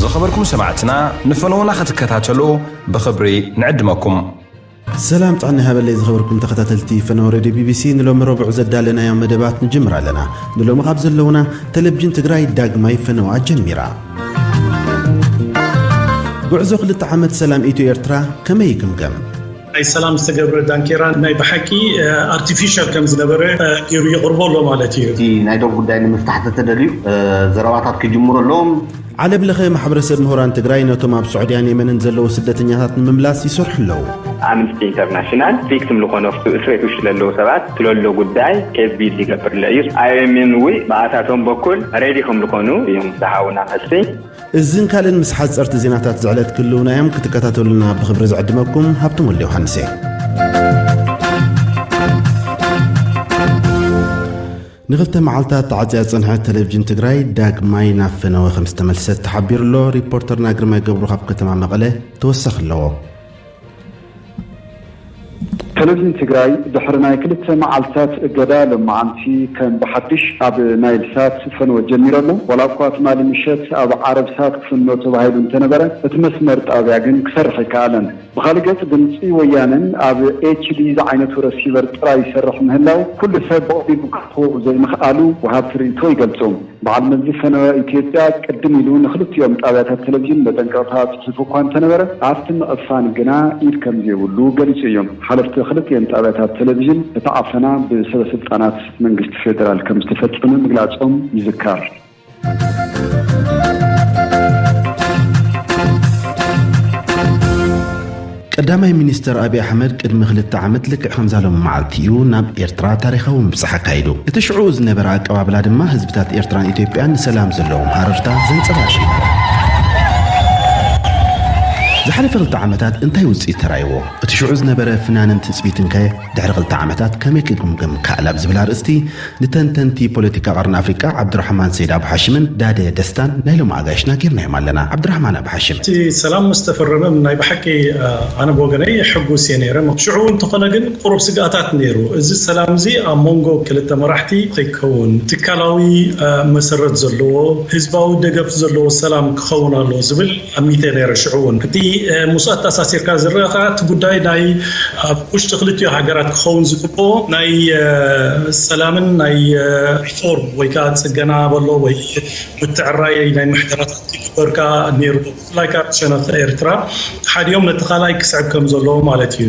ዝኸበርኩም ሰማዕትና ንፈነዉና ክትከታተሉ ብኽብሪ ንዕድመኩም። ሰላም ጥዕና ይሃበለይ ዝኸበርኩም ተኸታተልቲ ፈነወ ሬድዮ ቢቢሲ ንሎሚ ረቡዕ ዘዳለናዮ መደባት ንጅምር ኣለና ንሎሚ ካብ ዘለዉና ቴሌቭዥን ትግራይ ዳግማይ ፈነዋ ጀሚራ ጉዕዞ ክልተ ዓመት ሰላም ኢትዮ ኤርትራ ከመይ ይግምገም ናይ ሰላም ዝተገብረ ዳንኬራ ናይ ብሓቂ ኣርቲፊሻል ከም ዝነበረ ገይሩ የቕርቦ ኣሎ ማለት እዩ። እቲ ናይ ዶብ ጉዳይ ንምፍታሕ ተተደልዩ ዘረባታት ክጅምሩ ኣለዎም። ዓለም ለኸ ማሕበረሰብ ምሁራን ትግራይ ነቶም ኣብ ስዑድያን የመንን ዘለዉ ስደተኛታት ንምምላስ ይሰርሑ ኣለዉ። ኣምንስቲ ኢንተርናሽናል ቪክትም ልኾኑ ኣብቱ እስሬት ውሽጢ ለለዉ ሰባት ስለሎ ጉዳይ ኬዝ ቢልድ ይገብር ለእዩ። ኣይኦኤምኤን እውይ ብኣታቶም በኩል ሬዲ ከምልኾኑ እዩም ዝሃቡና መልሲ። እዝን ካልእን ምስ ሓጸርቲ ዜናታት ዝዕለት ክልውና እዮም ክትከታተሉና ብክብሪ ዝዕድመኩም ሃብቶም ወልደ ዮሃንስ እየ ንክልተ መዓልታት ተዓፅያ ዝፀንሐት ቴሌቭዥን ትግራይ ዳግማይ ናብ ፈነወ ከም ዝተመልሰት ተሓቢሩ ኣሎ ሪፖርተርና ግርማይ ገብሩ ካብ ከተማ መቐለ ተወሳኺ ኣለዎ ተለቪን ትግራይ ድሕሪ ናይ ክልተ መዓልታት እገዳ ሎማዓንቲ ከም ብሓድሽ ኣብ ናይል ሳት ፈነወ ጀሚሩ ኣሎ። ዋላ እኳ ትማሊ ምሸት ኣብ ዓረብ ሳት ክፍኖ ተባሂሉ እንተነበረ እቲ መስመር ጣብያ ግን ክሰርሕ ኣይከኣለን። ብኻሊእ ገፅ ድምፂ ወያነን ኣብ HD ዝዓይነቱ ረሲቨር ጥራይ ይሰርሕ ምህላው ኩሉ ሰብ ብቐሊሉ ክረኽቦ ዘይምኽኣሉ ወሃብቲ ርኢቶ ይገልፁ። በዓል መዚ ሰነወ ኢትዮጵያ ቅድም ኢሉ ንኽልቲኦም ጣብያታት ቴሌቪዥን መጠንቀቕታ ጽሒፉ እኳ እንተነበረ፣ ኣብቲ ምዕፋን ግና ኢድ ከምዘይብሉ ገሊጹ እዩ። ሓለፍቲ ክልቲኤን ጣብያታት ቴሌቪዥን እቲ ዓፈና ብሰበስልጣናት መንግስቲ ፌደራል ከምዝተፈጸመ ምግላጾም ይዝከር። ቀዳማይ ሚኒስተር ኣብይ ኣሕመድ ቅድሚ ክልተ ዓመት ልክዕ ከምዛ ሎሚ መዓልቲ እዩ ናብ ኤርትራ ታሪኻዊ ምብጻሕ ኣካይዱ። እቲ ሽዑኡ ዝነበረ ኣቀባብላ ድማ ህዝብታት ኤርትራን ኢትዮጵያን ንሰላም ዘለዎም ሃረርታ ዘንጸባርቕ እዩ ነይሩ። ዝሓለፈ ክልተ ዓመታት እንታይ ውጽኢት ተራእይዎ? እቲ ሽዑ ዝነበረ ፍናንን ትጽቢትንከ ድሕሪ ክልተ ዓመታት ከመይ ክግምገም ይከኣል ኣብ ዝብል ኣርእስቲ ንተንተንቲ ፖለቲካ ቀርኒ ኣፍሪቃ ዓብዱራሕማን ሰይድ ኣቡ ሓሽምን ዳደ ደስታን ናይ ሎሚ ኣጋይሽና ጌርናዮም ኣለና። ዓብዱራሕማን ኣቡ ሓሽም። እቲ ሰላም ምስ ተፈረመ ናይ ብሓቂ ኣነ ብወገነይ ሕጉስ እየ ነይረ። ሽዑ እውን እንተኾነ ግን ቁሩብ ስግኣታት ነይሩ። እዚ ሰላም እዚ ኣብ ሞንጎ ክልተ መራሕቲ ከይከውን ትካላዊ መሰረት ዘለዎ ህዝባዊ ደገፍ ዘለዎ ሰላም ክኸውን ኣለዎ ዝብል ኣሚተ ነይረ ሽዑ ውን። እቲ ምስኡ ኣተኣሳሲርካ ዝረኣ ከኣ እቲ ጉዳይ ናይ ኣብ ውሽጢ ክልቲኡ ሃገራት ክኸውን ዝግብኦ ናይ ሰላምን ናይ ሪፎርም ወይ ከኣ ጽገና በሎ ወይ ምትዕራይ ናይ ምሕደራታት ክግበር ከኣ ነይርዎ ብፍላይ ከኣ ብሸነኽ ኤርትራ ተሓዲኦም ነቲ ካልኣይ ክስዕብ ከም ዘለዎ ማለት ኢዩ።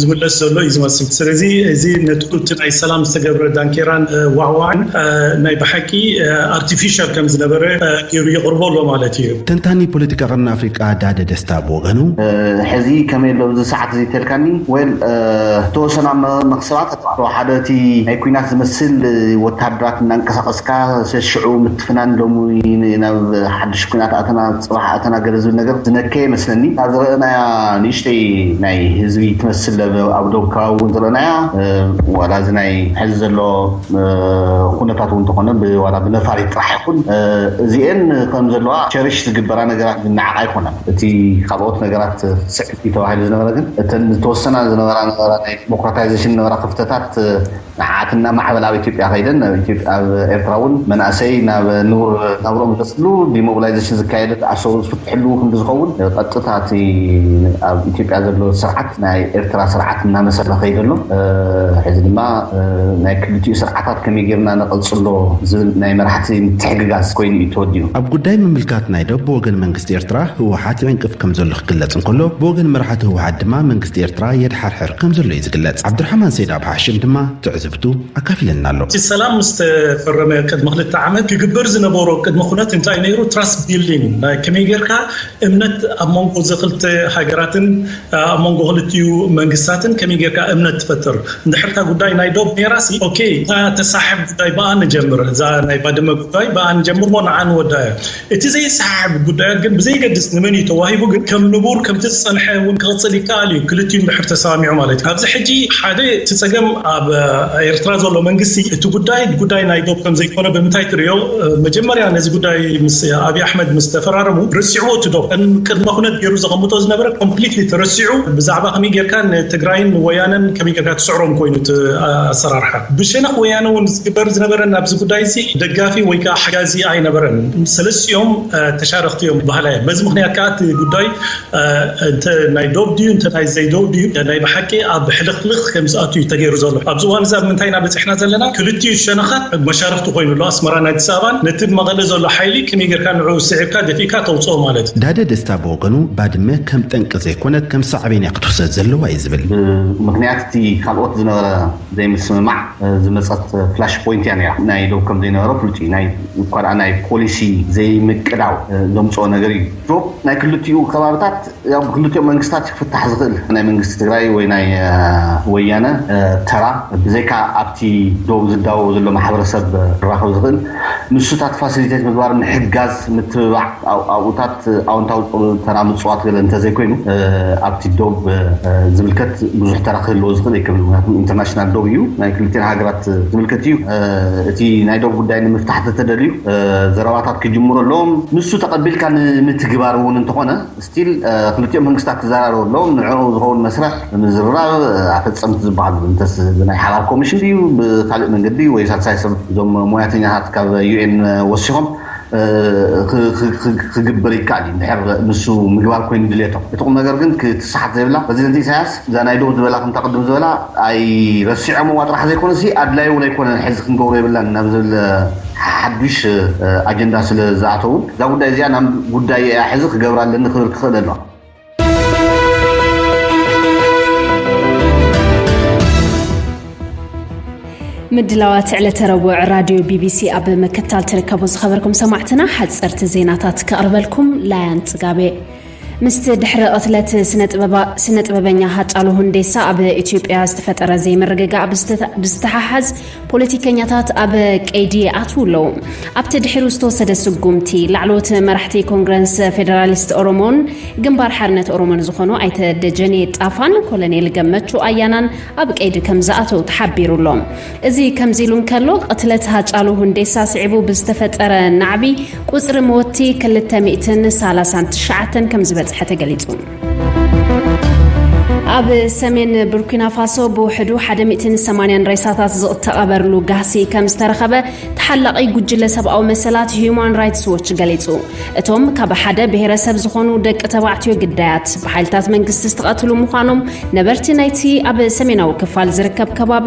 ዝውዕል ዘሎ እዩ ዝመስል ስለዚ እዚ ነቲ እቲ ናይ ሰላም ዝተገብረ ዳንኬራን ዋዕዋዕን ናይ ብሓቂ ኣርቲፊሻል ከም ዝነበረ ገይሩ የቕርቦ ኣሎ ማለት እዩ። ተንታኒ ፖለቲካ ቀርኒ ኣፍሪቃ ዳደ ደስታ ብወገኑ፣ ሕዚ ከመይ ኣሎ ኣብዚ ሰዓት እዚ እንተልካኒ well ዝተወሰና መክሰባት ኣተባዕትዋ ሓደ እቲ ናይ ኩናት ዝመስል ወተሃደራት እናንቀሳቀስካ ሸሽዑ ምትፍናን ሎሚ ናብ ሓድሽ ኩናት ኣተና ጽባሕ ኣተናገደ ዝብል ነገር ዝነከየ መስለኒ እታ ዝረእናያ ንእሽተይ ናይ ህዝቢ ትመስል ኣብ ዶብ ከባቢ ውን ዝረእናያ ዋላ እዚ ናይ ሐዚ ዘሎ ኹነታት ውን ተኾነ ዋላ ብነፋሪት ጥራሕ ይኹን እዚኤን ከምዘለዋ ቸርሽ ዝግበራ ነገራት ዝነዓቃ ኣይኮናን እቲ ኻልኦት ነገራት ስዕብ እዩ ተባሂሉ ዝነበረ ግን እተን ዝተወሰና ዝነበራ ናይ ዲሞክራታይዘሽን ዝነበራ ኽፍተታት ንዓኣትን ናብ ማዕበል ኣብ ኢትዮጵያ ከይደን ኣብ ኢትዮጵያ ኣብ ኤርትራ ውን መናእሰይ ናብ ንቡር ናብርኦም ዝመጽሉ ዲሞብላይዘሽን ዝካየድ ኣሰሩ ዝፍትሕሉ ክንዲ ዝኸውን ቐጥታ እቲ ኣብ ኢትዮጵያ ዘሎ ስርዓት ናይ ኤርትራ ስርዓት እናመሰለ ከይደ ኣሎ ሕዚ ድማ ናይ ክልቲኡ ስርዓታት ከመይ ጌርና ነቐጽሎ ዝብል ናይ መራሕቲ ምትሕግጋዝ ኮይኑ እዩ ተወዲኡ። ኣብ ጉዳይ ምምልካት ናይ ዶብ ብወገን መንግስቲ ኤርትራ ህወሓት ይዕንቅፍ ከምዘሎ ክግለጽ እንከሎ ብወገን መራሕቲ ህወሓት ድማ መንግስቲ ኤርትራ የድሓርሕር ከምዘሎ እዩ ዝግለጽ ዓብዱርሓማን ሰይድ ኣብ ሓሽም ድማ ትዕዝብቱ ኣካፊለና ኣሎ። እቲ ሰላም ምስ ተፈረመ ቅድሚ ክልተ ዓመት ክግበር ዝነበሮ ቅድመ ኩነት እንታይ ነይሩ? ትራስት ቢልዲንግ ናይ ከመይ ጌርካ እምነት ኣብ መንጎ እዚ ክልተ ሃገራትን ኣብ መንጎ ክልቲኡ መንግስታትን ከመይ ጌርካ እምነት ትፈጥር? እንድሕር እታ ጉዳይ ናይ ዶብ ነይራሲ ኦኬ እታ ተሳሕብ ጉዳይ ብኣ ንጀምር እዛ ናይ ባድመ ጉዳይ ብኣ ንጀምርሞ ንዓ ንወድኣያ። እቲ ዘይሰሓሕብ ጉዳያት ግን ብዘይገድስ ንመን እዩ ተዋሂቡ ግን ከም ንቡር ከምቲ ዝጸንሐ እውን ክቕጽል ይከኣል እዩ ክልቲኡ እንድሕር ተሰማሚዑ ማለት እዩ። ኣብዚ ሕጂ ሓደ እቲ ጸገም ኣብ ኤርትራ ዘሎ መንግስቲ እቲ ጉዳይ ጉዳይ ናይ ዶብ ከም ዘይኮነ ብምንታይ ትርእዮ መጀመርያ ነዚ ጉዳይ ምስ ኣብይ ኣሕመድ ምስ ተፈራረሙ ረሲዕዎ እቲ ዶብ ከም ቅድመ ኩነት ጌሩ ዘቐምጦ ዝነበረ ኮምፕሊትሊ ተረሲዑ ብዛዕባ ከመይ ጌርካ ንትግራይን ንወያነን ከመይ ጌርካ ትስዕሮም ኮይኑ እቲ ኣሰራርሓ ብሸነኽ ወያነ ውን ዝግበር ዝነበረ ናብዚ ጉዳይዚ ደጋፊ ወይ ከኣ ሓጋዚ ኣይነበረን። ሰለስቲኦም ተሻረኽቲ እዮም በሃላይ እየ። በዚ ምኽንያት ከኣ እቲ ጉዳይ እንተ ናይ ዶብ ድዩ እንተ ናይ ዘይዶብ ድዩ ናይ ብሓቂ ኣብ ሕልኽልኽ ከም ዝኣቱ እዩ ተገይሩ ዘሎ። ኣብዚ እዋን እዚ ኣብ ምንታይ ኢና በጺሕና ዘለና? ክልቲኡ ሸነኻት መሻርኽቲ ኮይኑ ኣሎ። ኣስመራን ኣዲስ ኣበባን። ነቲ ብ መቐለ ዘሎ ሓይሊ ከመይ ጌርካ ንዕኡ ስዒርካ ደፊእካ ተውጽኦ ማለት እዩ። ዳደ ደስታ ብወገኑ ባድመ ከም ጠንቂ ዘይኮነት ከም ሳዕቤን እያ ክትውሰድ ዘለዋ እዩ ዝብል። ብምኽንያት እቲ ካልኦት ዝነበረ ዘይምስምማዕ ዝመጸት ፍላሽ ፖይንት እያ ነይራ። ናይ ዶብ ከም ዘይነበረ ፍሉጥ እዩ። ናይ እኳ ደኣ ናይ ፖሊሲ ዘይምቅዳው ዘምጽኦ ነገር እዩ። ዶብ ናይ ክልቲኡ ከባብታት ያው ብክልቲኦም መንግስታት እዩ ክፍታሕ ዝኽእል። ናይ መንግስቲ ትግራይ ወይ ናይ ወያነ ተራ ብዘይካ ኣብቲ ዶብ ዝዳወብ ዘሎ ማሕበረሰብ ክራኸብ ዝኽእል ንሱታት ፋሲሊቴት ምግባር፣ ምሕጋዝ፣ ምትብባዕ ኣብኡታት፣ እቲ ኣወንታዊ ተራ ምጽዋት ገለ እንተዘይኮይኑ ኣብቲ ዶብ ዝምልከት ብዙሕ ተራ ክህልዎ ዝኽእል ኣይከምን። ምኽንያቱ ኢንተርናሽናል ዶብ እዩ። ናይ ክልቲኤን ሃገራት ዝምልከት እዩ። እቲ ናይ ዶብ ጉዳይ ንምፍታሕ እንተተደልዩ ዘረባታት ክጅምሩ ኣለዎም። ንሱ ተቐቢልካ ንምትግባር እውን እንተኾነ ስቲል ክልቲኦም መንግስታት ክዘራረቡ ኣለዎም። ንዕኡ ዝኸውን መስርሕ ብምዝርራብ ኣፈጸምቲ ዝበሃሉ እንተስ ብናይ ሓባር ኮሚሽን ድዩ ብካልእ መንገዲ ወይ ሳልሳይ ሰብ እዞም ሞያተኛታት ካብ UN ወሲኾም ክግብር ይከኣል እዩ እንድሕር ንሱ ምግባር ኮይኑ ድልየቶም። እቲ ቁምነገር ግን ክትሰሓት ዘይብላ ፕረዚደንት ኢሳያስ እዛ ናይ ዶብ ዝበላ ከምታ ቅድም ዝበላ ኣይረሲዖምዋ ጥራሕ ዘይኮነሲ ኣድላይ እውን ኣይኮነን ሕዚ ክንገብሮ የብልናን ናብ ዝብል ሓዱሽ ኣጀንዳ ስለ ዝኣተውን እዛ ጉዳይ እዚኣ ናም ጉዳየይ እያ ሕዚ ክገብራ ኣለኒ ክብል ክኽእል ኣለዋ። ምድላዋት ዕለተ ረቡዕ ራድዮ ቢቢሲ ኣብ ምክታል ትርከቡ ዝኸበርኩም ሰማዕትና ሓፀርቲ ዜናታት ከቕርበልኩም ላያን ፅጋቤ ምስቲ ድሕሪ ቕትለት ስነ ጥበበኛ ሃጫሉ ሁንዴሳ ኣብ ኢትዮጵያ ዝተፈጠረ ዘይምርግጋእ ብዝተሓሓዝ ፖለቲከኛታት ኣብ ቀይዲ ይኣትዉ ኣለዉ። ኣብቲ ድሒሩ ዝተወሰደ ስጉምቲ፣ ላዕለዎት መራሕቲ ኮንግረንስ ፌደራሊስት ኦሮሞን ግንባር ሓርነት ኦሮሞን ዝኾኑ ኣይተ ደጀኔ ጣፋን ኮለኔል ገመቹ ኣያናን ኣብ ቀይዲ ከምዝኣተዉ ተሓቢሩ ኣሎ። እዚ ከምዚሉ እንከሎ፣ ቅትለት ሃጫሉ ሁንዴሳ ስዒቡ ብዝተፈጠረ ናዕቢ ቁጽሪ መወትቲ ክልተ ሚእትን ሳላሳን ትሽዓተን ከምዝበጽሐ ተገሊጹ። ኣብ ሰሜን ቡርኪናፋሶ ብውሕዱ 180 ሬሳታት ዝተቐበርሉ ጋህሲ ከም ዝተረኸበ ተሓላቒ ጉጅለ ሰብኣዊ መሰላት ሁማን ራይትስ ዎች ገሊጹ። እቶም ካብ ሓደ ብሔረሰብ ዝኾኑ ደቂ ተባዕትዮ ግዳያት ብሓይልታት መንግስቲ ዝተቐትሉ ምዃኖም ነበርቲ ናይቲ ኣብ ሰሜናዊ ክፋል ዝርከብ ከባቢ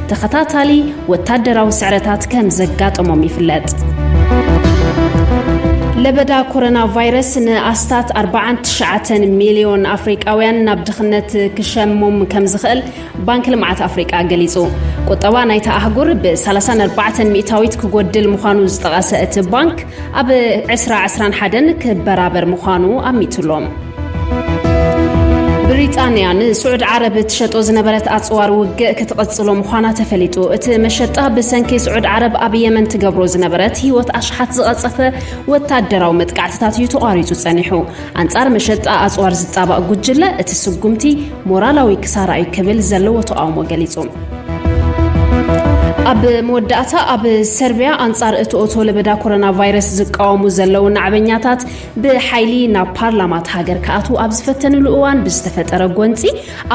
ተኸታታሊ ወታደራዊ ስዕረታት ከም ዘጋጠሞም ይፍለጥ። ለበዳ ኮሮና ቫይረስ ንኣስታት 49 ሚልዮን ኣፍሪቃውያን ናብ ድኽነት ክሸሞም ከም ዝኽእል ባንኪ ልምዓት ኣፍሪቃ ገሊጹ። ቁጠባ ናይታ ኣህጉር ብ34 ሚእታዊት ክጎድል ምዃኑ ዝጠቐሰ እቲ ባንክ ኣብ ዕስራ ዕስራን ሓደን ክበራበር ምዃኑ ኣሚቱሎም። ብሪጣንያ ንስዑድ ዓረብ ትሸጦ ዝነበረት ኣጽዋር ውግእ ክትቕጽሎ ምዃና ተፈሊጡ። እቲ መሸጣ ብሰንኪ ስዑድ ዓረብ ኣብ የመን ትገብሮ ዝነበረት ህይወት ኣሽሓት ዝቐጸፈ ወታደራዊ መጥቃዕትታት እዩ ተቋሪጹ ጸኒሑ። ኣንጻር መሸጣ ኣጽዋር ዝጣባእ ጉጅለ እቲ ስጉምቲ ሞራላዊ ክሳራ እዩ ክብል ዘለዎ ተቓውሞ ገሊጹ። ኣብ መወዳእታ ኣብ ሰርቢያ ኣንጻር እቲ ኦቶ ለበዳ ኮሮና ቫይረስ ዝቃወሙ ዘለዉ ናዕበኛታት ብሓይሊ ናብ ፓርላማት ሃገር ክኣትዉ ኣብ ዝፈተንሉ እዋን ብዝተፈጠረ ጎንፂ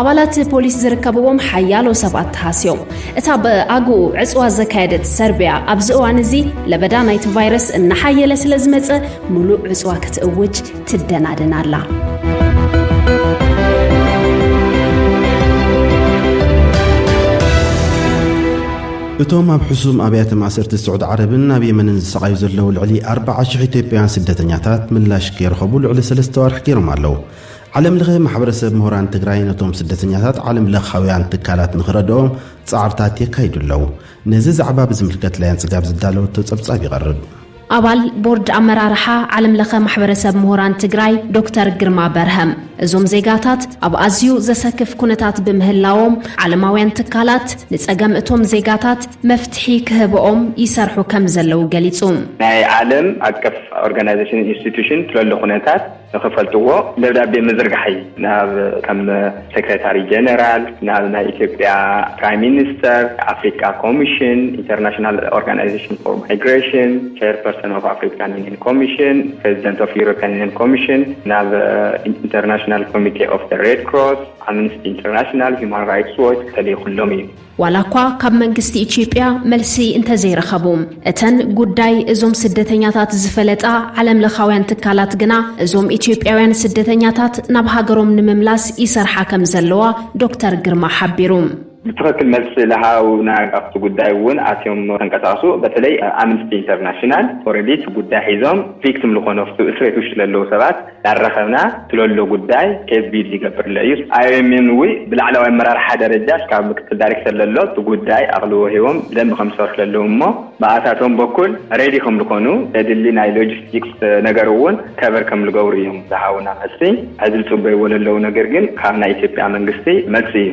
ኣባላት ፖሊስ ዝርከብዎም ሓያሎ ሰባት ተሃስዮም እታ ብኣግኡ ዕፅዋ ዘካየደት ሰርቢያ ኣብዚ እዋን እዚ ለበዳ ናይቲ ቫይረስ እናሓየለ ስለ ዝመፀ ምሉእ ዕጽዋ ክትእውጅ ትደናደን ኣላ። እቶም ኣብ ሕሱም ኣብያተ ማእሰርቲ ስዑድ ዓረብን ኣብ የመንን ዝሰቓዩ ዘለዉ ልዕሊ 40,000 ኢትዮጵያውያን ስደተኛታት ምላሽ ከይረኸቡ ልዕሊ ሰለስተ ዋርሕ ገይሮም ኣለዉ። ዓለም ለኸ ማሕበረሰብ ምሁራን ትግራይ ነቶም ስደተኛታት ዓለም ለኻውያን ትካላት ንኽረድኦም ጻዕርታት የካይዱ ኣለዉ። ነዚ ዛዕባ ብዝምልከት ላያን ጽጋብ ዝዳለወቶ ጸብጻብ ይቐርብ። ኣባል ቦርድ ኣመራርሓ ዓለም ለኸ ማሕበረሰብ ምሁራን ትግራይ ዶክተር ግርማ በርሀም እዞም ዜጋታት ኣብ ኣዝዩ ዘሰክፍ ኩነታት ብምህላዎም ዓለማውያን ትካላት ንፀገም እቶም ዜጋታት መፍትሒ ክህበኦም ይሰርሑ ከምዘለዉ ገሊፁ። ናይ ዓለም ኣቀፍ ኦርጋናይዜሽንን ኢንስቲቱሽን ትለሉ ኩነታት ንኽፈልጥዎ ደብዳቤ ምዝርጋሕ'ዩ። ናብ ከም ሴክሬታሪ ጀነራል፣ ናብ ናይ ኢትዮጵያ ፕራይም ሚኒስተር፣ ኣፍሪቃ ኮሚሽን፣ ኢንተርናሽናል ኦርጋናይዜሽን ፎር ማይግሬሽን፣ ቸይር ፐርሰን ኦፍ ኣፍሪካን ዩኒየን ኮሚሽን፣ ፕረዚደንት ኦፍ ዩሮፕያን ዩኒየን ኮሚሽን፣ ናብ ኢንተርናሽናል ኮሚቴ ኦፍ ዘ ሬድ ክሮስ፣ ኣምንስቲ ኢንተርናሽናል፣ ሂዩማን ራይትስ ዎች ተሊኹሎም እዩ። ዋላኳ ካብ መንግስቲ ኢትዮጵያ መልሲ እንተዘይረኸቡ፣ እተን ጉዳይ እዞም ስደተኛታት ዝፈለጣ ዓለምለኻውያን ትካላት ግና እዞም ኢትዮጵያውያን ስደተኛታት ናብ ሃገሮም ንምምላስ ይሰርሓ ከምዘለዋ ዶክተር ግርማ ሓቢሩ። ብትኽክል መልሲ ልሃቡና ኣብቲ ጉዳይ እውን ኣትዮም ተንቀሳቅሱ በተለይ ኣምንስቲ ኢንተርናሽናል ኦረዲ እቲ ጉዳይ ሒዞም ቪክትም ልኾኑ ኣብቲ እስርቤት ውሽጢ ለለዉ ሰባት ዳረኸብና ስለሎ ጉዳይ ኬዝቢድ ይገብርለ እዩ። ኣይኦኤምኤን እውይ ብላዕለዋይ ኣመራርሓ ደረጃ እስካብ ምክትል ዳሪክተር ለሎ እቲ ጉዳይ ኣቕልቦ ሂቦም ብደንቢ ከምዝሰርሑ ለለዎም እሞ ብኣታቶም በኩል ሬዲ ከምልኮኑ ዘድሊ ናይ ሎጂስቲክስ ነገር እውን ከቨር ከምልገብሩ እዮም ዝሃቡና መልሲ ሕዚ ልፅበይዎ ለለው ነገር ግን ካብ ናይ ኢትዮጵያ መንግስቲ መልሲ እዩ።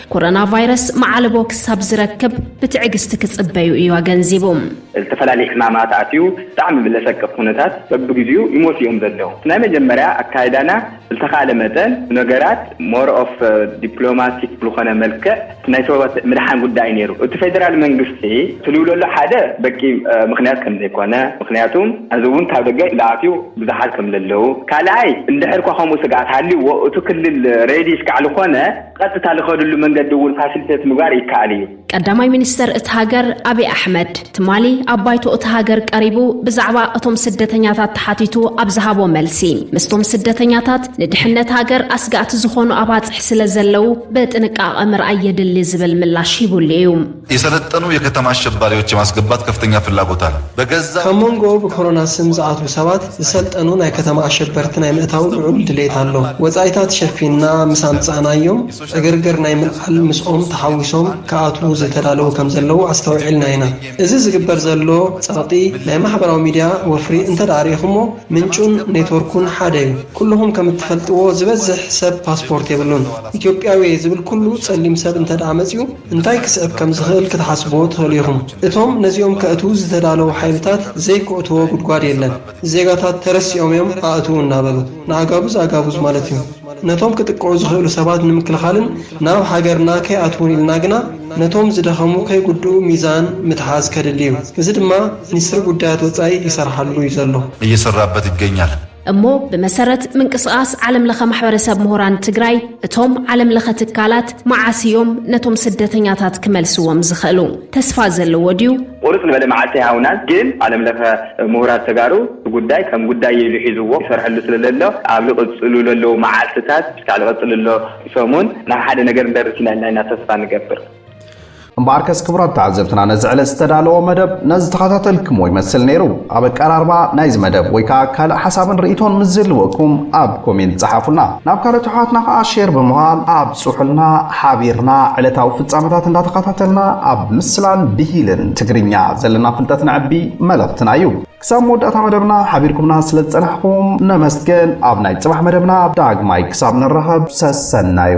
ኮሮና ቫይረስ መዓልቦ ክሳብ ዝረክብ ብትዕግስቲ ክጽበዩ እዩ ኣገንዚቡ። ዝተፈላለየ ሕማማት ኣትዩ ብጣዕሚ ብለሰቅቅ ኩነታት በብግዚኡ ይሞቱ እዮም ዘለዉ። እቲ ናይ መጀመርያ ኣካይዳና ብልተኻእለ መጠን ነገራት more of diplomatic ብልኾነ መልክዕ እቲ ናይ ሰባት ምድሓን ጉዳይ እዩ ነይሩ። እቲ ፌደራል መንግስቲ ትልውለሉ ሓደ በቂ ምኽንያት ከምዘይኮነ ምኽንያቱ ሐዚ እውን ካብ ደገ ልኣትዩ ብዙሓት ከምለለዉ ካልኣይ እንድሕር እኳ ከምኡ ስግኣት ሃልይዎ እቱ ክልል ready እስካዕ ልኾነ ቐጥታ ልኸድሉ መንገዲ እውን ፋሲሊቴት ምግባር ይከኣል እዩ። ቀዳማይ ሚኒስተር እታ ሃገር ኣቢይ ኣሕመድ ትማሊ ኣብ ባይቶ እታ ሃገር ቀሪቡ ብዛዕባ እቶም ስደተኛታት ተሓቲቱ ኣብ ዝሃቦ መልሲ ምስቶም ስደተኛታት ንድሕነት ሃገር ኣስጋእቲ ዝኾኑ ኣባጽሕ ስለዘለዉ ብጥንቃቐ ምርኣይ የድሊ ዝብል ምላሽ ሂቡሉ እዩ። የሰለጠኑ የከተማ ኣሸባሪዎች የማስገባት ከፍተኛ ፍላጎት ኣለ በገዛ ካብ ሞንጎ ብኮሮና ስም ዝኣትዉ ሰባት ዝሰልጠኑ ናይ ከተማ ኣሸበርቲ ናይ ምእታው ልዑል ድሌት ኣሎ። ወጻኢታት ሸፊንና ምስ ኣምጻእናዮም ዕግርግር ናይ ምልዓል ምስኦም ተሓዊሶም ክኣትዉ ዝተዳለዉ ከም ዘለዉ ኣስተውዒልና ኢና። እዚ ዝግበር ዘሎ ጸቕጢ ናይ ማሕበራዊ ሚድያ ወፍሪ እንተድኣ ርኢኹሞ ምንጩን ኔትወርኩን ሓደ እዩ። ኩሉኹም ከም እትፈልጥዎ ዝበዝሕ ሰብ ፓስፖርት የብሉን። ኢትዮጵያዊየ ዝብል ኩሉ ጸሊም ሰብ እንተድኣ መጺኡ እንታይ ክስዕብ ከም ዝኽእል ክትሓስቡ ትኽእሉ ኢኹም። እቶም ነዚኦም ከእትዉ ዝተዳለዉ ሓይልታት ዘይክእትዎ ጉድጓድ የለን። ዜጋታት ተረሲኦም እዮም ኣእትዉ እናበሉ። ንኣጋቡዝ ኣጋቡዝ ማለት እዩ። ነቶም ክጥቅዑ ዝኽእሉ ሰባት ንምክልኻልን ናብ ሃገርና ከይኣትዉን ኢልና ግና ነቶም ዝደኸሙ ከይጉድኡ ሚዛን ምትሓዝ ከድሊ እዩ። እዚ ድማ ሚኒስትሪ ጉዳያት ወፃኢ ይሰርሓሉ እዩ ዘሎ። እየሰራበት ይገኛል። እሞ ብመሰረት ምንቅስቓስ ዓለም ለኸ ማሕበረሰብ ምሁራን ትግራይ እቶም ዓለም ለኸ ትካላት መዓስ እዮም ነቶም ስደተኛታት ክመልስዎም ዝኽእሉ? ተስፋ ዘለዎ ድዩ? ቁርፅ ዝበለ መዓልቲ ኣይሃቡናን ግን ዓለም ለኸ ምሁራት ተጋሩ እቲ ጉዳይ ከም ጉዳይ ኢሉ ሒዝዎ ይሰርሐሉ ስለዘሎ ኣብ ልቕፅሉ ለለዉ መዓልትታት ክሳዕ ልቐፅል ልሎ ሰሙን ናብ ሓደ ነገር ንደርስ ኢና ኢልና ኢና ተስፋ ንገብር። እምበኣርከስ ክቡራት ተዓዘብትና ነዚ ዕለት ዝተዳለወ መደብ ነዚ ተኸታተልክሞ ይመስል ነይሩ። ኣብ ኣቀራርባ ናይዚ መደብ ወይ ከዓ ካልእ ሓሳብን ርእይቶን ምስ ዝህልወኩም ኣብ ኮሜንት ፀሓፉልና። ናብ ካልኦት ኣሕዋትና ከዓ ሼር ብምባል ኣብፅሑልና። ሓቢርና ዕለታዊ ፍፃመታት እንዳተኸታተልና ኣብ ምስላን ብሂልን ትግርኛ ዘለና ፍልጠት ነዕቢ መልእኽትና እዩ። ክሳብ መወዳእታ መደብና ሓቢርኩምና ስለ ዝጸናሕኩም ነመስግን። ኣብ ናይ ጽባሕ መደብና ዳግማይ ክሳብ ንራኸብ ሰሰናዩ።